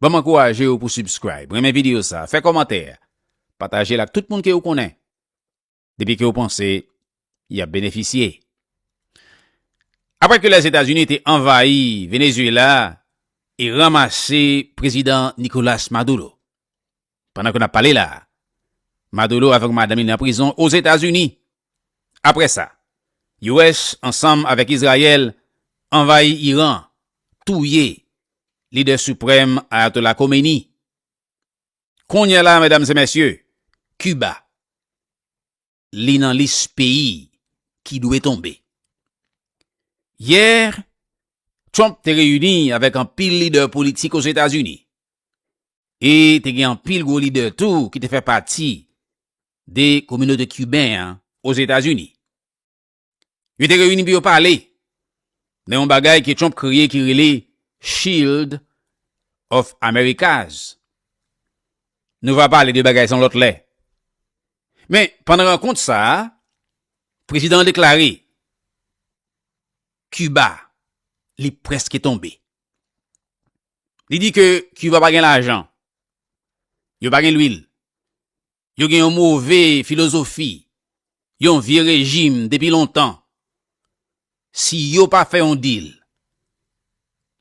Banm ankouraje yo pou subscribe, renmen video sa, fè kòmantè, patajel ak tout moun ke ou konnen, depi ke ou panse yap benefisye. Aprè ke Lèzetazini te anvayi Venezuela e ranmase Prezidan Nicolas Maduro, Pandan ke nap pale la a, Maduro avèk madanm li nan prizon Ozetazini. Aprè sa, US ansanm avèk Izrayèl anvayi Iran, touye lidè siprèm Ayatollah Khomeini. Kounye a la a medam e mesye, Kiba. li nan lis peyi ki dwe tonbe. Yè, Trump te reyini avèk anpil lidè politik Ozetazini e te gen anpil gwo lidè tou ki te fè pati de kominote kiben an Ozetazini. Yo te reyini pou yo pale nan yon bagay ke Trump kreye ki rele Shield of Americas. Nou va pale de bagay sa yon lòt lè. Men, pandan rankont sa a, prezidan an deklare, Kiba, li prèske tonbe. Li di ke Kiba pa gen lajan, yo pa gen lwil, Yo gen yon move filozofi, yon vye rejim depi lontan. Si yo pa fè yon dil,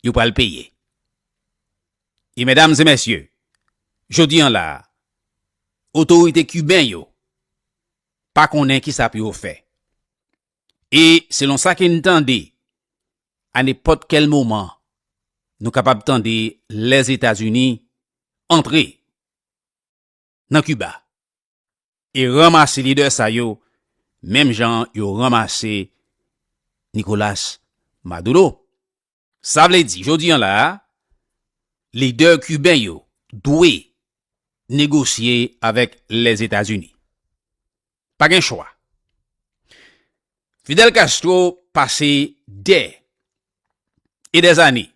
yo pral peye. E medam e mesye, jodi an la a, otorite kiben yo pa konnen kisa pou yo fè. E selon sa ke n tande, a nenpòt kèl moman, nou kapab tande Lèzetazini antre. nan Kiba e ranmase lidè sa yo menm jan yo ranmase Nicolas Maduro. Sa vle di jodi an la a, lidè kiben yo dwe negosye avèk Lèzetazini. Pa gen chwa. Fidel Castro pase dè e dè zane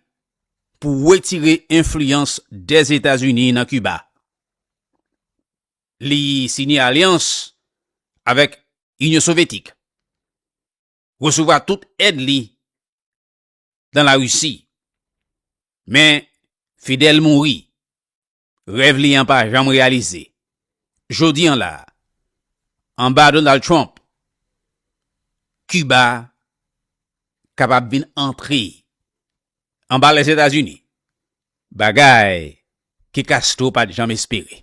pou wetire enfliyans dè Etazini nan Kiba. Li sinye alyans avèk Inyon Sovyetik, resevwa tout èd li dan Larisi. Men Fidel mouri Rèv li an pa janm reyalize. Jodi an la a, anba Donald Trump, Kiba kapab vin antre anba Lèzetazini, bagay ke Castro pa t janm espere.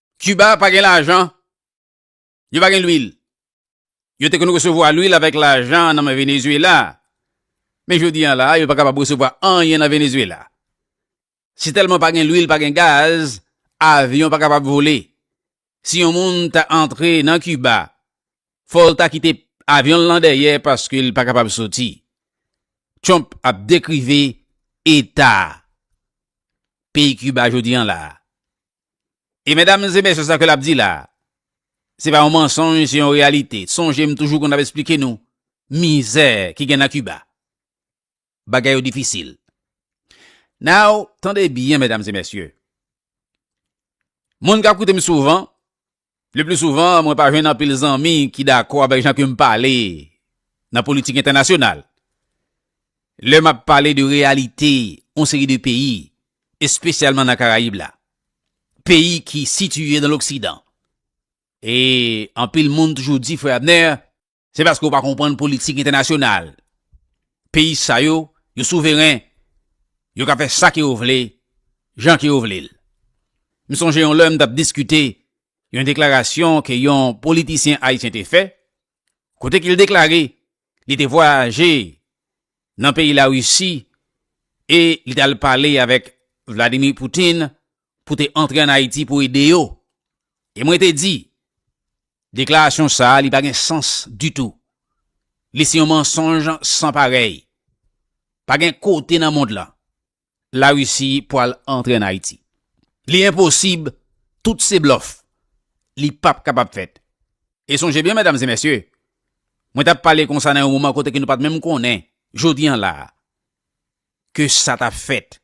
Cuba pa gen lajan, yo pa gen lwil. Yo te konn resevwa lwil avèk lajan nan men Venezuela, men jodi an la yo pa kapab resevwa anyen nan Venezuela. Si tèlman pa gen lwil, pa gen gaz, avyon pa kapab vole. Si yon moun ta antre nan Cuba, fò l ta kite avyon l lan dèyè paske l pa kapab soti. Trump ap dekrive eta peyi Cuba jodi an la. E medam e mesye sa ke lap di la, se pa yon mansonj se yon reyalite. Sonje m toujou konn ap esplike nou mizè ki gen nan Kiba. Bagay yo difisil. Now, tande byen medam e mesye. Moun kap koute m souvan, Le pli souvan, mwen pa jwenn anpil zanmi ki dakò avèk jan ke m pale nan politik entènasyonal. Lè m ap pale de reyalite yon seri de peyi, espesyalman nan Karayib la, peyi ki sitiye nan loksidan, e anpil moun toujou di, Frè Abner, Se paske ou pa konprann politik entènasyonal. Peyi sa yo, yo souveren, yo ka fè sa ke yo vle, jan ke yo vle l. M sonje yon lè m t ap diskite yon deklarasyon ke yon politisyen ayisyen te fè, kote ke l deklare li te vwayaje nan peyi Larisi e li t al pale avèk Vladimir Poutine pou te antre an Ayiti pou ede yo. E mwen te di, deklarasyon sa a li pa gen sans ditou. Li se yon mansonj san parèy. Pa gen kote nan mond lan Larisi pwal antre an Ayiti. Li enposib, tout se blòf. Li pap kapab fèt. E sonje byen medam e mesye, mwen t ap pale konsa nan yon moman kote ke nou pa t menm konnen, jodi an la a, ke sa t ap fèt.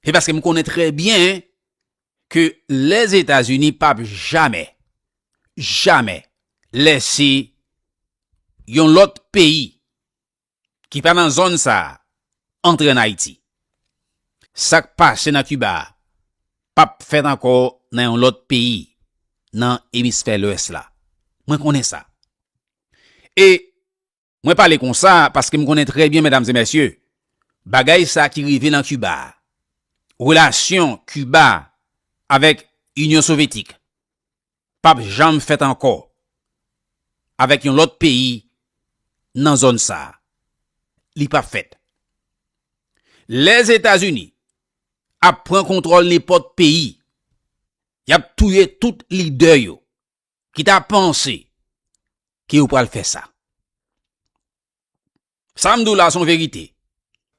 Se paske m konnen trè byen ke Lèzetazini p ap jamè, jamè lèse yon lòt peyi ki pa nan zòn sa a antre ann Ayiti. Sa k pase nan Kiba a p ap fèt ankò nan yon lòt peyi nan emisfè lwès la. Mwen konnen sa. E Mwen pale konsa paske m konnen trè byen medam e mesye, bagay sa ki rive nan Kiba a, relasyon Kiba avèk Inyon Sovetik, pa p janm fèt ankò avèk yon lòt peyi nan zòn sa. Li pa p fèt. Lè Etazini ap pran kontwòl nenpòt peyi, y ap touye tout lidè yo. ki ta panse ke yo pral fè sa. Sa m di w la se yon verite.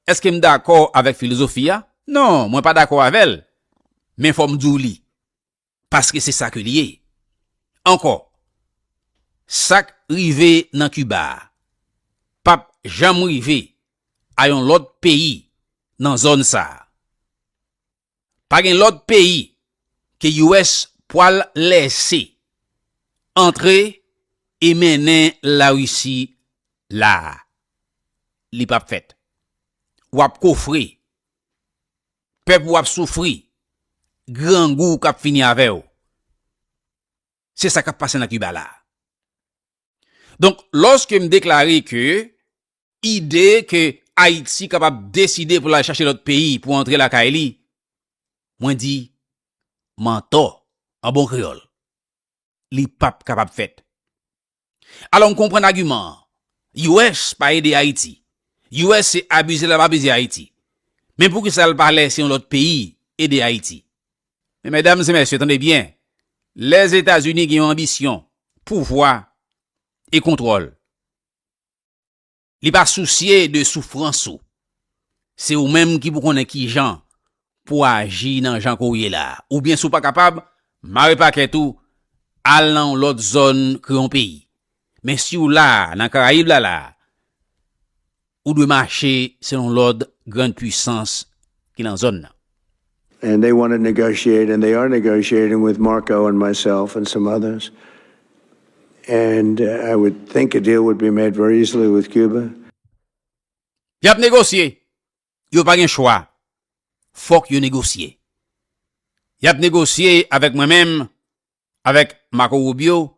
Eske m dakò avèk filozofi a? Non, mwen pa dakò avè l, men fò m di w li. Paske se sa ke li ye. Ankò, sa k rive nan Kiba a, pa p janm rive a yon lòt peyi nan zòn sa a. Pa gen lòt peyi ke US pwal lèse antre e mennen la Risi la a. Li pap fèt. Wap kofre. Pèp ou ap soufri. Grangou kap fini avè ou. Se sa kap pase nan Kiba la a. Donk, lòske m deklare ke Ide ke Ayiti kapab deside pou l al chache lòt peyi pou antre lakay li, mwen di, mantò, an bon kreyòl. Li p ap kapab fèt. Alò m konprann agiman an. US pa ede Ayiti. US se abize l ap abize Ayiti. Men poukisa l pa lèse yon lòt peyi ede Ayiti? Men medam e mesye, tande byen, Lèzetazini gen yon anbisyon, pouvwa e kontwòl. Li pa sousye de soufrans ou. Se ou menm ki pou konnen kijan pou aji nan jan ke w ye la. Oubyen si w pa kapab, mare pakèt ou, al nan yon lòt zòn ke yon peyi. Men si w la nan Karayib la la, ou dwe mache selon lòd grand pwisans ki nan zòn nan. And they want to negotiate and they are negotiating with Marco and myself and some others and I would think a deal would be made very easily with Cuba. Y ap negosye. Yo pa gen chwa. Fòk yo negosye. Y ap negosye avèk mwen menm, avèk Marco Rubio,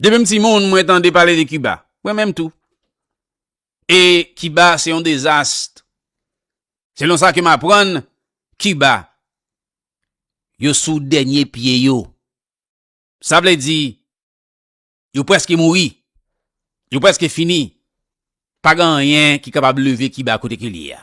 Depi m timoun mwen tande pale de Kiba. Mwen menm tou. E Kiba se yon dezast. Selon sa ke m aprann, Kiba, yo sou dènye pye yo. Sa vle di, yo preske mouri. Yo preske fini. Pa gen anyen ki kapab leve Kiba kote ke li ye a.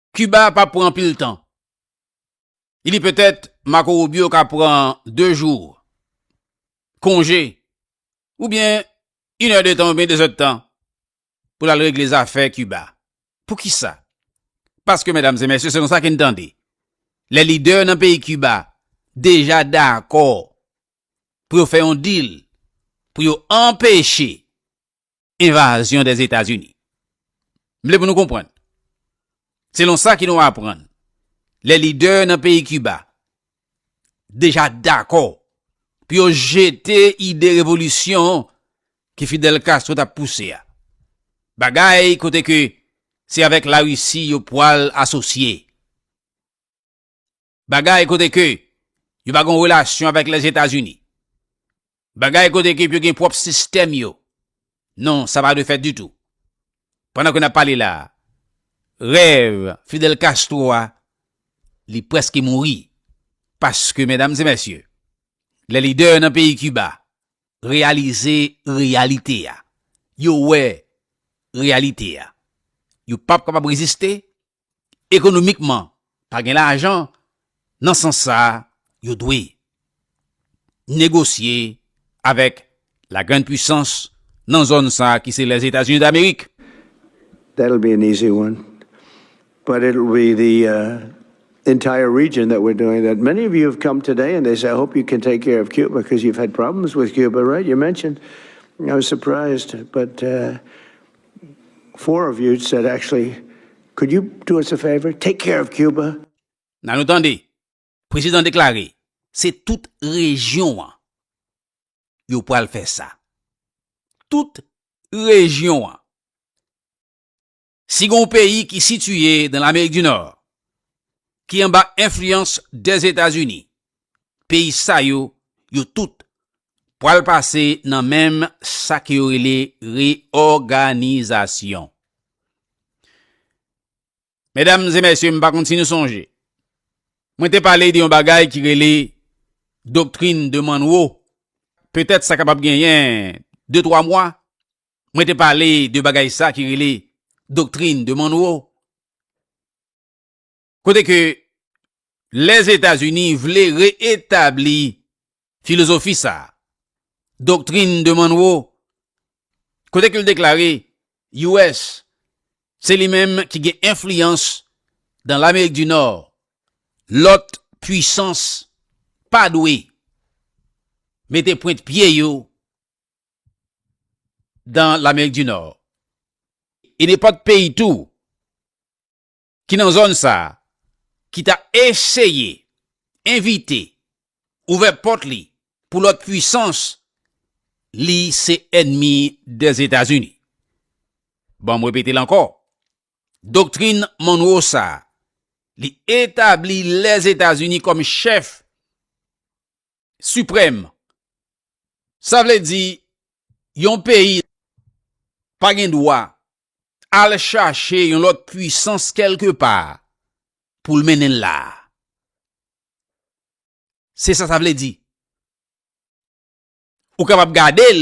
Cuba a pap pran anpil tan. Li di petèt Marco Rubio ka pran 2 jou konje oubyen yn è de tan oubyen 2 zè de tan pou l al regle zafè Cuba. Poukisa? Paske medam e mesye selon sa ke n tande lè lidè nan peyi Cuba deja dakò pou yo fè yon deal pou yo anpeche Envazyon dè Etazini. M vle pou nou konprann. Selon sa ki nou aprann, lè lidè nan peyi Kiba deja dakò pou yo jete ide revolisyon ke Fidel Castro t ap pouse a. Bagay kote ke se avèk Larisi yo pwal asosye. Bagay kote ke yo pa gen yon relasyon avèk Lèzetazini. Bagay kote ke yo gen pwòp sistèm yo. Non, sa pa dwe fèt ditou. Pandan ke n ap pale la, rèv Fidel Castro a, li prèske mouri. Paske, medam e mèsye, lè lidè nan peyi Kiba reyalize reyalite a, yo wè reyalite a, yo p ap kapab reziste, ekonomikman pa gen lajan nan sans sa yo dwe negosye avèk la grand pwisans nan zòn sa ki se Lèzetazini Damerik. That will be an easy one but it will be the entire region that we are doing that. Many of you have come today and they say I hope you can take care of Cuba because you have had problems with Cuba right you mentioned I was surprised but Four of you said actually could you do us a favor take care of Cuba. Nan nou tande prezidan deklare se tout rejyon an yo pral fè sa. Tout rejyon an. Si gon peyi ki sitiye dan lamerik di nò ki anba enfliyans dèzetazini peyi sa yo, yo tout pwal pase nan menm sa ke yo rele reòganizasyon. Medam e mesye, m pa konn si nou sonje, mwen te pale de yon bagay ki rele doktrin de Manwo, petèt sa kapab genyen de twa mwa, mwen te pale de bagay sa ki rele doktrin de Manwo. Kote ke Lèzetazini vle re-etabli filozofi sa a, Doctrine de Monroe, kote ke l deklare US se li menm ki gen enfliyans dan Lamerik di Nò, lòt pwisans pa dwe mete pwent pye yo dan Lamerik di Nò. E nenpòt peyi tou ki nan zòn sa a ki ta eseye envite, ouvè pòt li pou lòt pwisans li se ènmi Dèzetazini. Ban m repete l ankò, Doktrin Monroe sa a, li etabli Lèzetazini kòm chèf siprèm, sa vle di yon peyi pa gen dwa al chache yon lòt pwisans kèlke pa pou l mennen l la a. Se sa sa vle di. Ou kapab gade l